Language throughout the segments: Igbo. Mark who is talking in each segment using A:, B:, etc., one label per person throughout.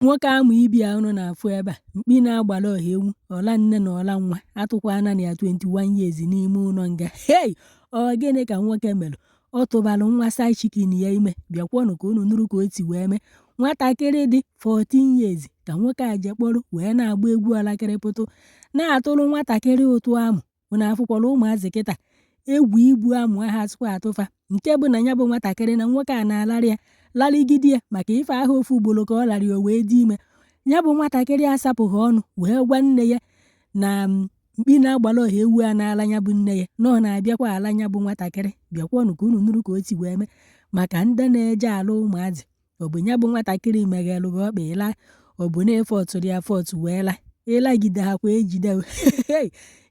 A: nwoke amụ ibi a unu na-afụ ebe a mkpi na-agbara ọha ewu ọla nne na ọla nwa atụkwana ya 21 years n'ime ụlọ nga hei ọ gịnị ka nwoke mere ọ tụbara nwa side chicken ya ime bịakwanụ ka unu nụrụ ka o si wee mee nwatakịrị dị 14 years ka nwoke a je kpọrọ wee na-agba egwu alakịrịpụtụ na-atụrụ nwatakịrị ụtụ amụ unu afụkwala ụmụazị kịta egwu ibu amụ ha sịkwa atụ fa nke bụ na ya bụ nwatakịrị na nwoke a na-alarị ya larịgide ya maka ife ahụ ofu ugboro ka ọ larị o wee dị ime ya bụ nwatakịrị asapụghị ọnụ wee gwa nne ya na mm, mkpi na-agbara ọha ewu a na-ala ya bụ nne ya na ọ na-abịakwa ala ya bụ nwatakịrị bịakwanụ ka unu nụrụ ka o si wee mee maka ndị na-eje ala ụmụazị ọ bụ ya bụ nwatakịrị meghere gị ọkpa ị la ọ bụ na ị forcerụ ya force wee la ị lagide ha kwa e jide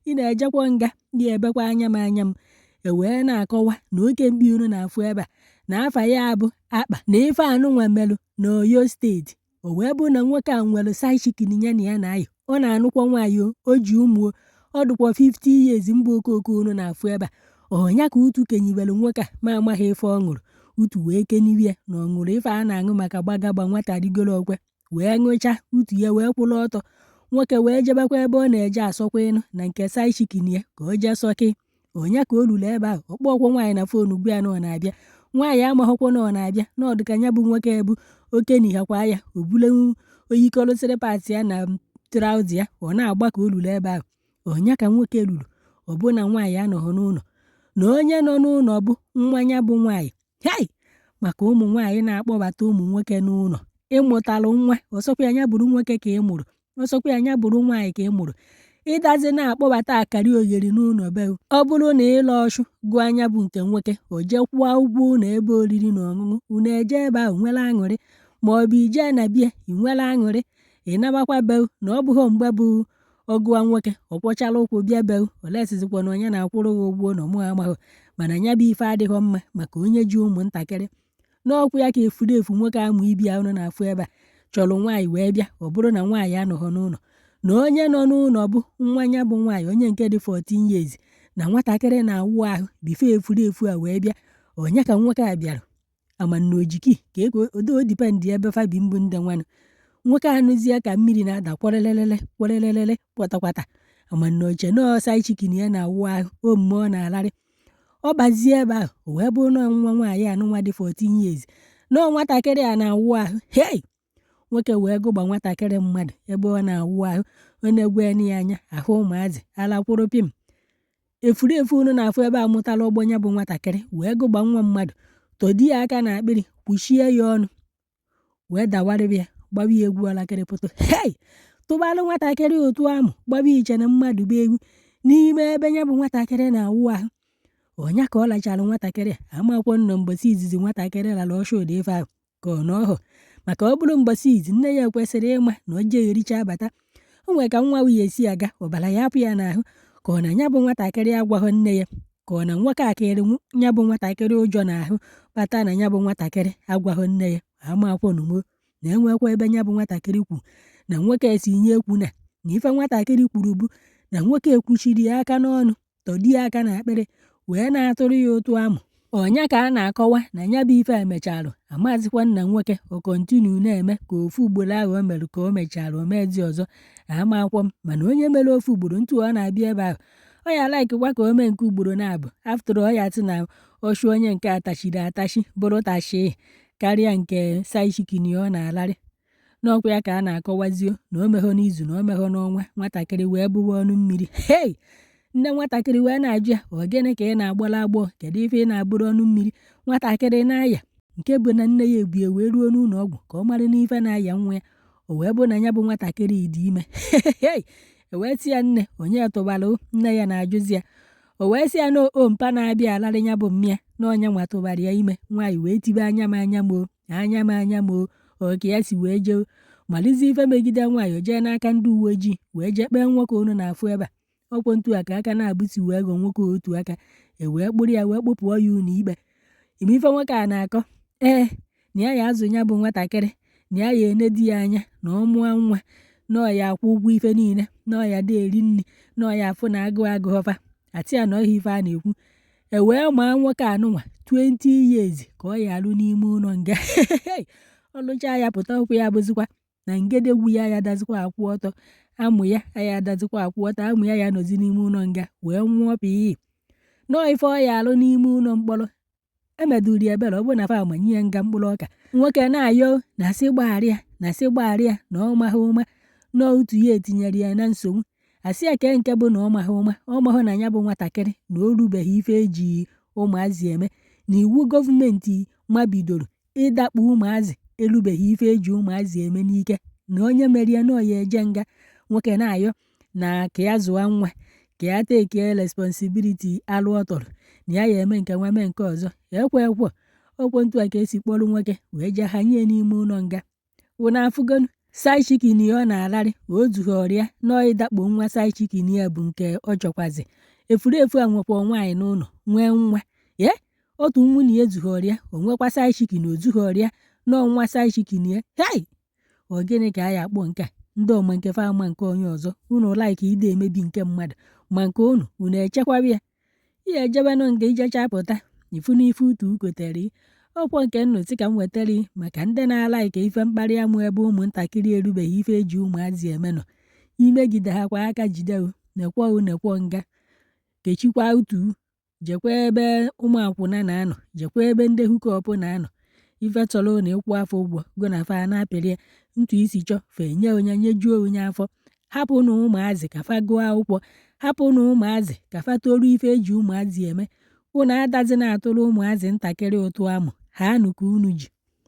A: ị na-ejekwa nga gị ebekwa anya m anya m e wee na-akọwa na oke mkpi unu na-afụ ebe a na afa ya bụ Akpa na ife a nụnwa melụ na Oyo State o wee bụrụ na nwoke a nwere side chicken ya na ya na-ayọ ọ na-anụkwa nwaanyị o ji ụmụ ọ dịkwa 50 years mgbe okooko unu na-afụ ebe a ọ nya ka utu kenibere nwoke a ma amaghị ife ọ ṅụrụ utu wee keniwe ya na ọ ṅụrụ ife a na-aṅụ maka gbagagba nwata rigoro ọkwe wee ṅụcha utu ya wee kwụrụ ọtọ nwoke wee jebekwa ebe ọ na-eje asọkwa ịnụ na nke side chicken ya ka o jee sọkị ọ nya ka o luru ebe ahụ ọ kpọghọkwọ nwaanyị na phone gwa ya na ọ na-abịa nwaanyị amaghọkwa na ọ na-abịa na ọ dịka ya bụ nwoke bụ o kenihakwa ya o bulenwu o yikọlụsịrị pant ya na trouser ya ọ na-agba ka o luru ebe ahụ ọ nya ka nwoke luru ọ bụ na nwaanyị anọghị n'ụlọ na onye nọ n'ụlọ bụ nwa ya bụ nwaanyị hei maka ụmụ nwaanyị na-akpọbata ụmụ nwoke n'ụlọ ị mụtalụ nwa ọ sọkwa ya ya bụrụ nwoke ka ị mụrụ ọ sọkwa ya nya bụrụ nwaanyị ka ị mụrụ ị dazi na-akpọbata akara ogheri n'ụlọ be ọ bụrụ na ịla ọtụ gụọ nya bụ nke nwoke o jekwụọ ụgwọ ụlọ ebe oriri na ọṅụṅụ unu eje ebe ahụ nwere aṅụrị ma ọ bụ i jee na bie ị nwere aṅụrị ị nabakwa be na ọ bụghị mgbe bụ ọ gụwa nwoke ọ kwọchara ụkwụ bịa be olesizikwa na ọ nya na-akwụrụ gị ụgwọ ụlọ mụ amaghị mana nya bụ ife adịghị mma maka onye ji ụmụntakịrị na ọ kwa ya ka efulefu nwoke amụ ibi a unu na-afụ ebe a chọrọ nwaanyị wee bịa ọ bụrụ na nwaanyị anọghọ n'ụlọ na onye nọ n'ụlọ bụ nwa ya bụ nwaanyị onye nke dị 14 years na nwatakịrị na-awụ ahụ before efulefu a wee bịa ọ nya ka nwoke a bịara ama m na o ji key ka ego odo depend ebe fa bi mbụ ndị nwanụ nwoke anụzie ka mmiri na-ada kwarelelele kwarelelele kwatakwata ama m na o che na ọ side chicken ya na-awụ ahụ onye nke ọ na-alarị ọ bazie ebe ahụ o wee bụrụ na nwa nwaanyị a nwa dị 14 years na nwatakịrị a na-awụ ahụ hei nwoke wee gụgba nwatakịrị mmadụ ebe ọ na-awụ ahụ ọ na-egwe ya anya ahụ ụmụazị alakwụrụ pim efurefu unu na-afụ ebe a mụtara ọgbọ nya bụ nwatakịrị wee gụgba nwa mmadụ tọdo ya aka na akpịrị kpuchie ya ọnụ wee dawarịrị ya gbawa ya egwu alakịrị pụta hei tụbalụ nwatakịrị ụtụ amụ gbawa iche na mmadụ bụ ewu n'ime ebe ya bụ nwatakịrị na-awụ ahụ ọnya ka ọ lachara nwatakịrị a amakwọ m na mbọsị izizi nwatakịrị lara ọsha ụdị ife ahụ ka ọ na ọhọ maka ọ bụrụ mbọsị izi nne ya kwesịrị ịma na o jeghị ericha abata o nwere ka nwa ahụ ya esi aga ọbara ya apụ ya n'ahụ ka ọ na ya bụ nwatakịrị agwaghị nne ya ka ọ na nwoke a tiri ya bụ nwatakịrị ụjọ n'ahụ kpata na ya bụ nwatakịrị agwaghị nne ya amakwụ na mo na enwekwa ebe ya bụ nwatakịrị kwu na nwoke sị ya ekwuna na ife nwatakịrị kwuru bụ na nwoke a kpuchiri ya aka n'ọnụ tọdo ya aka n'akpịrị wee na-atụrụ ya ụtụ amụ. Ọnya ka a na-akọwa na ya bụ ife a mechalụ, amazịkwa m ma nwoke a ọ continue na-eme ka ofu ugboro ahụ o mere ka o mechara o meezi ọzọ, amakwa m. Mana onye mere ofu ugboro ntu ọ na-abịa ebe ahụ, ọ ya likekwa ka o mee nke ugboro naabọ. After all, ọ ya sị na ọ chụọ onye nke a tachiri atachi bụrụ tashịị karịa nke side chicken ọ na-alarị. n'ọkwa ya ka a na-akọwazị o na o meghọ n'izu na o meghọ n'ọnwa nwatakịrị wee bụwa ọnụ mmiri hei nne nwatakịrị wee na-ajụ ya ọ gịnị ka ị na-agbara agbọ kedu ife ị na-abụrụ ọnụ mmiri nwatakịrị na-aya nke bụ na nne ya ebue wee ruo n'ụlọ ọgwụ ka ọ mara n'ife na-aya nwa ya o wee bụ na ya bụ nwatakịrị dị ime hei e wee sị ya nne onye tụbara nne ya na-ajụzi ya o wee sị ya na ọ mpa na-abịa alarị ya bụ mma ya na onye nwa tụbara ya ime nwaanyị wee tibe anya m anya m o anya m anya m ọ ka e si wee jee malizi ife megide nwaanyị o jee n'aka ndị uwe ojii wee jee kpee nwoke unu na-afụ ebe a ọkwa ntu a ka aka na-abụsi wee gọ nwoke otu aka e wee kpụrụ ya wee kpụpụọ ya ụlọ ikpe ị ma ife nwoke a na-akọ ee na ya ya azụ ya bụ nwatakịrị na ya ya enedo ya anya na ọ mụọ nwa na ọ ya akwụ ụgwọ ife niile na ọ ya adị eri nri na ọ ya afụ na agụụ agụghọ fa a sị ya na ọhọ ya ife a na-ekwu E wee maa nwoke anụnwa 20 years ka ọ ya alụ n'ime ụlọ nga ọ lụchaa ya pụta ọkwa ọ ya abụzikwa na ngedegwu ya ya adazikwa akwụ ọtọ amụ ya ya adazikwa akwụ ọtọ amụ ya ya nọzi n'ime ụlọ nga wee nwụọ pii nọọ ife ọ ya alụ n'ime ụlọ mkpọrọ e medụrụ ya ebere ọ bụrụ na fa amanye ya nga mkpụrụ ọka nwoke na-ayọ na-asị gbagharị ya na-asị gbagharị ya na ọ maghị ụma na ụtụ ya etinyere ya na nsogbu a sị ya kee nke bụ na ọ maghị ụma ọ maghị na ya bụ nwatakịrị na o rubeghị ife eji ụmụazị eme na iwu gọọmenti mabidoro ịdakpo ụmụazị erubeghị ife eji ụmụazị eme n'ike na onye mere ya na ọ ya eje nga nwoke na-ayọ na ka ya zụwa nwa ka ya take responsibility alụ ọ tọrọ na ya ya eme nke nwa mee nke ọzọ ekwe ekwe ọkwa ntu a ka e si kpọrọ nwoke wee jee hanye n'ime ụlọ nga unu afụgonu side chicken ya ọ na-ararị ma o zughịrị ya nọọ ịdakpo nwa side chicken ya bụ nke ọ chọkwazi efurefu a nwekwa nwaanyị n'ụlọ nwee nwa ye otu nwunye ya ezughịrị ya o nwekwa side chicken o zughịrị ya nọọ nwa side chicken ya hei ọ gịnị ka a ya-akpọ nke a ndị ọma nke fa ama nke onye ọzọ unu like ide emebi nke mmadụ ma nke unu unu echekwaba ya i jewenụ nga i jecha pụta ị fụ n'ife utu kotere ọkwa nke nnụtị ka m wetara maka ndị na-alike ife mkparị amụ ebe ụmụntakịrị erubeghị ife e ji ụmụazị eme nọ imegide ha kwa aka jide nekwo nekwo nga kechikwa utu jekwa ebe ụmụ akwụna na-anọ jekwa ebe ndị hookup na-anọ ife ị chọrọ na ị kwụọ fa ụgwọ gị na fa na-apịrị ya etu i si chọọ fa enye onye nyejuo onye afọ hapụnụ ụmụazị ka fa gụọ akwụkwọ hapụnụ ụmụazị ka fa toruo ife e ji ụmụazị eme unu adazi na-atụrụ ụmụazị ntakịrị utu amụ ha anụ ka unu ji